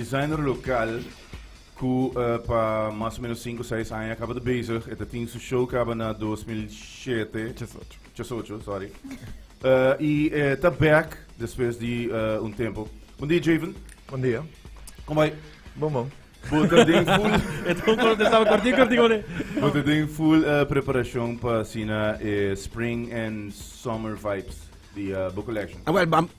Designer lokal ku pa mas o menos sinku seis aña a kaba ta bezig. E ta tin su show kaba na dos mil shete, Chas Ocho, sorry, i e ta bèk despues di un tempu. Bundia, Javen. Bundia. Kon bai? Bon, bon. Bo ta den full. E ta un kontestá kortin kortin oné. Bo ta den full preparashon pa asina e spring and summer vibes di bo collection? Awèl,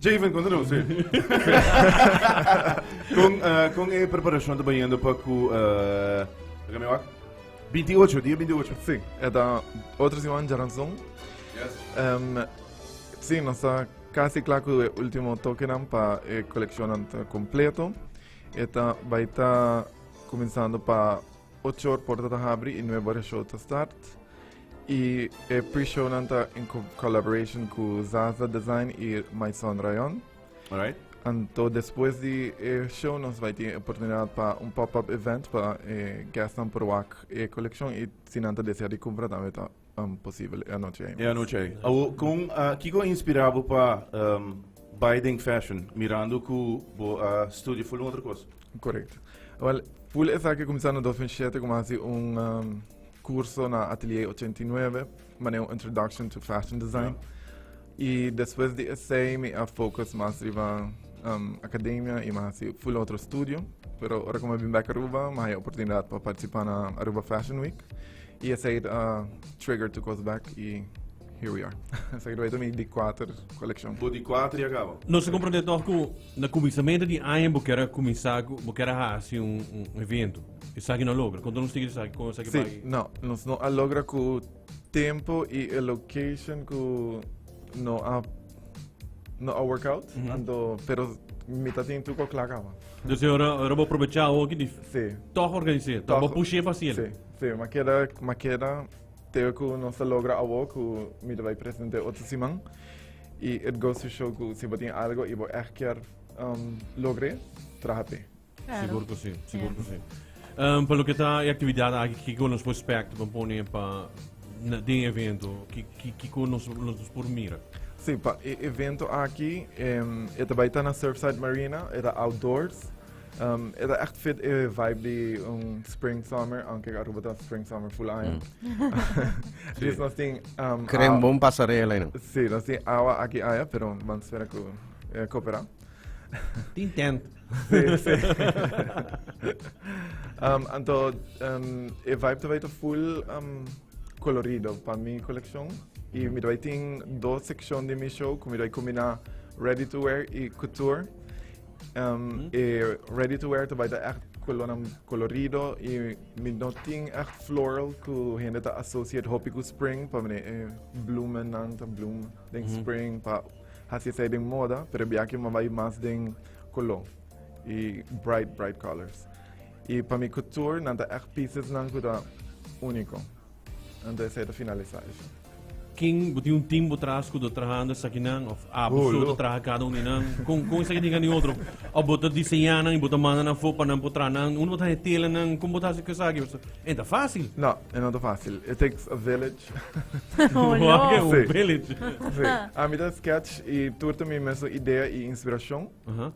Javen, konta nos e. kon, uh, kon e preparacion ta bayendo pa ku... Uh, Laga mi wak? 28, dia 28. Sí, eta otro semana ya ranzón. Yes. Um, ehm, sí, nos está casi claro que el último toque para el eh, colección completo. Eta va a estar comenzando para 8 horas por abrir y 9 horas show start. Y e pre-shownan ta en collaboration cu Zaza Design y Maison Rayon. Alright. Anto despues di e show nos bai tin oportunidad pa un pop-up event pa e guestnan por wak e coleccion y si nan ta desea di cumpra tambe ta um, posible e anochi E anochi ei. Awo, con, ah, kiko a inspira bo pa ehm, bai den fashion, mirando cu bo a studia full un otro cos? Correcto. Wel, full esaki cuminsa na 2007 como hasi un um, Curso na Atelier ochenta i nuebe, manera un introduction to fashion design. Y despues di esey mi a focus mas riba um, academia y mi a haci full otro estudio. Pero ora cu mi a bin back Aruba, mi a haya oportunidad pa participa na Aruba Fashion Week. Y esey a trigger to cos back y here we are. Esey a grabado mi di cuater coleccion. Bo di cuater ya caba? Nos ta comprende toch cu na cuminsamentu di aña bo kier a cuminsa cu bo kier a haci un, un evento. Esaki no logra. Konta nos tigi esaki kon esaki sí, bai? No, nos no a logra ku tempo i e location ku no a no a work out. Mm -hmm. Anto, pero mi ta tin tu ko kla kaba. Dus e ora ora bo probecha o ki di. Sí. Toch organiseer, toch bo pushe fasil. Sí, sí, ma keda ma keda teo ku nos a logra awo ku mi ta bai presente otro siman. I it goes to show ku si bo tin algo i bo echt kier um, logr'e, traha p'e. Sigur ku si, sigur ku si. Um, pa lo ke ta e aktividat aki, kiko nos por spek pa pone pa na den evento, kiko nos nos por mira? Si, pa e evento aki, em, e ta bai ta na Surfside Marina, e ta outdoors. Um, e ta echt fit e vibe di un spring summer, aunque Aruba ta spring summer full aña. Dus nos tin, um, Krem awa- bon pasarela ino. Si, nos tin awa aki aña, pero man spera ku eh, kopera. Tin tent. Sí, sí. um, anto, um, e vibe te vai ta full um, colorido pa mi coleccion. Y mi vai tin dos sección de mi show, como mi vai combinar ready to wear y couture. Um, mm. E ready to wear te vai ta echt colonam colorido y mi no tin echt floral ku hende ta associate hopi ku spring pa mene eh, bloemen nan ta bloem den mm. spring pa hasi sai den moda pero biaki ma vai mas den color y bright bright colors y pa mi couture nan ta echt pieces nan cu ta unico ento esaki ta finalisa esho. Kin bo tin un team bo tras cu ta trahando esaki nan of a bo solo ta traha cada un di nan con con esaki tin cani otro of bo ta diseña nan y bo ta manda nan afo pa nan por traha nan uno bo ta haña tela nan con bo ta haci cu esaki pasobra e no ta facil. No e no ta facil it takes a village. A mi ta sketch i tur ta mi mesun idea i inspirashon.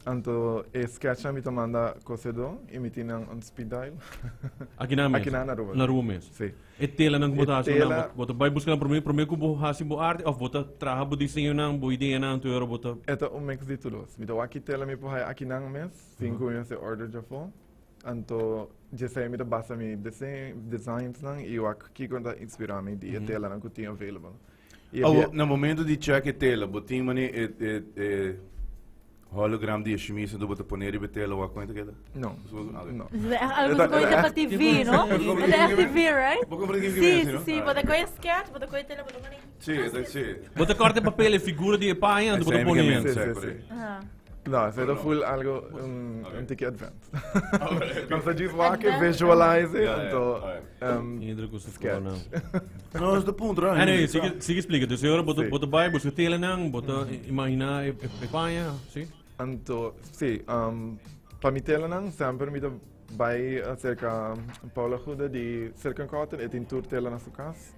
Anto e sketch nan mi ta manda ku sedu i mi tin nan on speed dial. Akinan mes? Akinan na Aruba. Na Aruba mes. Si. E telanan ku bo ta hasi nan, bo ta bai buskanan promé, promé ku bo hasi bo arte òf bo ta traha bo diseñonan, bo ideanan tur ora bo ta. E ta un mix di tur dos. Mi ta wak ki tela mi por haya akinan mes, tin ku mi mester order djafó. Anto dj'esei mi ta basa mi designsnan i wak kiko ta inspirá mi di e telanan ku tin available. I Awo, na momentu di chèk e tela, bo tin manera e e e hologram di e shemisa do bo ta pone riba e tela wak kuen ta keda? No. Algu ta koi dapa TV, no? E ta htv, right? Si, si, si. Bo ta koi e skèch, bo ta koi e tela, bo ta pone. Sí, esa es sí. Bo ta corta e papel, e figura di e paña anto bo ta pone en. Sí, sí, sí. No, ese ta full algo un tiki advanced. Nos ta just wak e visualize it anto sketch. No, nos ta puntra. Anyway, sigue explica. Dus ahora bo ta bai, busca telenan, bo ta imagina e paña, sí? Anto, sí, pa mi telenan semper mi ta bai acerca Paula Guda di Silk and Cotton, e tin tur tela na su cas.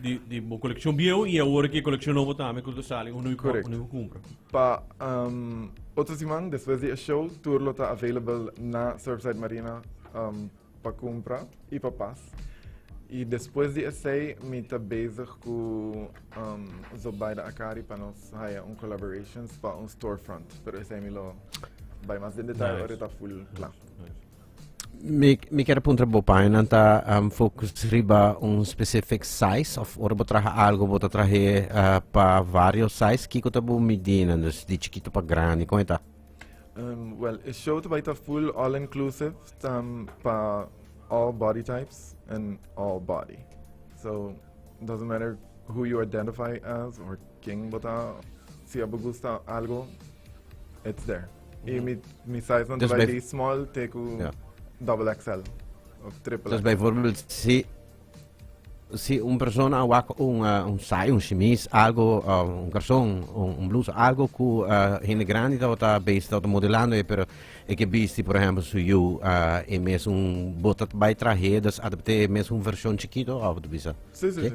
di, di bo colección viejo y ahora que colección nuevo también cuando sale uno y Correct. uno compra. Pa um, otro semana después de show, tour lo está available na Surfside Marina um, pa compra y pa pas. Y después de ese, me está bezig con um, Zobaida Akari para nos haya un collaborations para un storefront. Pero ese me lo... Vai más en detalle, nice. ahora está full claro. Nice. Mi, mi quiere puntra bo painan ta um, focus riba un specific size of ora bo traha algo bo ta trahe uh, pa vario size kiko ta bo midina dus di chiquito pa grande con eta Um, well, e show te baita full all inclusive tam pa all body types and all body. So doesn't matter who you identify as or Ken bo ta? Si abo gusta algo, it's there. I mi, mi size nan ta Dus bai bij- di small te ku Ja. double XL of triple Dus XL. bijvoorbeeld, si, si un persona a wak un, eh, un saai, un chemise, algo, eh, un garson, un, un blusa, algo ku eh, hende grandi tabata besti, tabata modelando, e, pero e ke bisti, por ehempel, su yu, eh, e mes un, bo ta bai trahé, dus a ta bete e mes un version chikito, of ta bisa? Sí, sí, Ke? sí.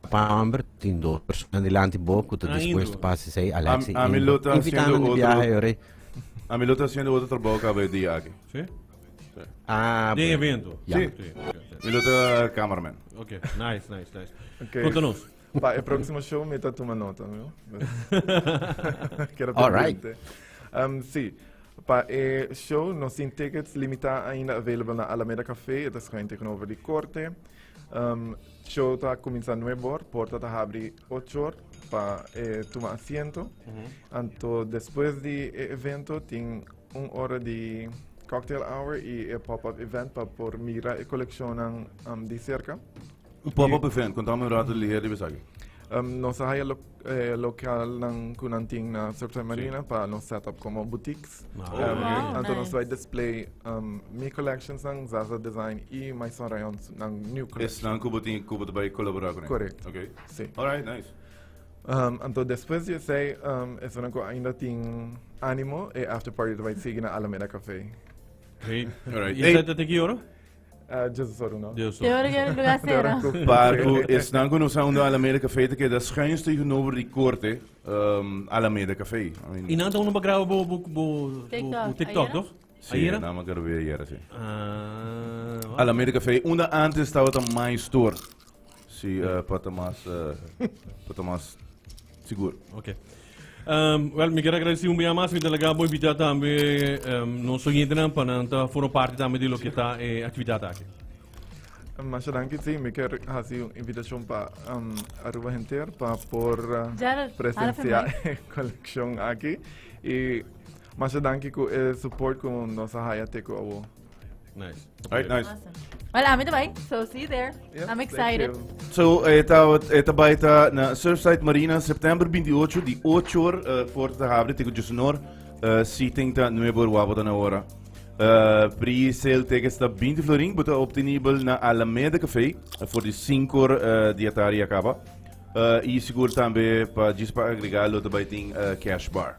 Paamber tin dos persona dilanti bo ku ta dispuesto pasa esei Alex i Indro. Invitando na biaha e orei. Ami lo ta haciendo otro trabajo caba e dia aki. Sí? Ah, Den bueno. evento. Ja. Sí. Sí, ok, ok. Mi lo ta cameraman. Ok, nice, nice, nice. Ok. Konta nos. Pa e próksimo show mi ta tuma nota, no? Kera All right. pendiente. Um, sí, pa e show nos tin tickets limitá ainda available na Alameda Café, e ta schuin tegenover di korte. Um, Show ta kuminsá nuebe or, porta ta habri ocho or pa e tuma asiento. Anto despues di e evento tin un ora di cocktail hour i e pop-up event pa por mira e kolekshonnan di serka. Un pop-up event, kontáme un rato di liher riba esaki. Um, nos a haya lo eh, local nan ku nan tin na Surf Time Marina pa nos set up como boutiques. Ah. Oh, Um, wow, Anto nos nice. vai display um, mi collections nan, Zaza Design y Maison Rayon nan new Es collection. nan kubo tin kubo te bai colaborar con Correct. Okay. Sí. All right, nice. Um, anto después di esei, um, eso nan ku ainda tin animo, e after party te vai sigui na Alameda Café. Hey. Alright. Y Hey. esa te te quiero? Jesus ora no. Deus Te ora ora lugar sera. Par cu esnan cu nos a unda Alameda Café ta keda schuins tegenover di corte um, Alameda Café. I mean, Y nan ta uno pa graba bo, bo, bo, bo, TikTok, bo TikTok, ayera? toch? sí, Ayera? nada más grabé ayer, sí. Ah, Alameda Café, unda antes tabata My Store. Sí, uh, pa ta mas, uh, pa ta mas seguro. Ok. Um, well, mi quiero agradecer un día más, mi delegado por invitar también um, nos oyentes para estar formar parte también de lo que está eh, actividad aquí. Mas dankie sim, mi ker hasi un invitacion pa um, Aruba Henter pa por uh, Gerald, ahora presenciar fue collection aquí. Y mas dankie ku e support ku nos haya teko awo. Nice. Alright, nice. Awesome. Well, I'm the bike, so see you there. Yes, I'm excited. So, eta, eta baita na Surfside Marina, September 28, di 8 uur, uh, voor te hebben, tegen Jusnor, uh, eh, seating ta nuevo wabo dan ahora. Uh, eh, pre-sale tickets ta 20 florin, buta obtenibel na Alameda Café, voor eh, die 5 uur uh, die ataria acaba. Uh, y seguro también para agregarlo, te baiting uh, cash bar.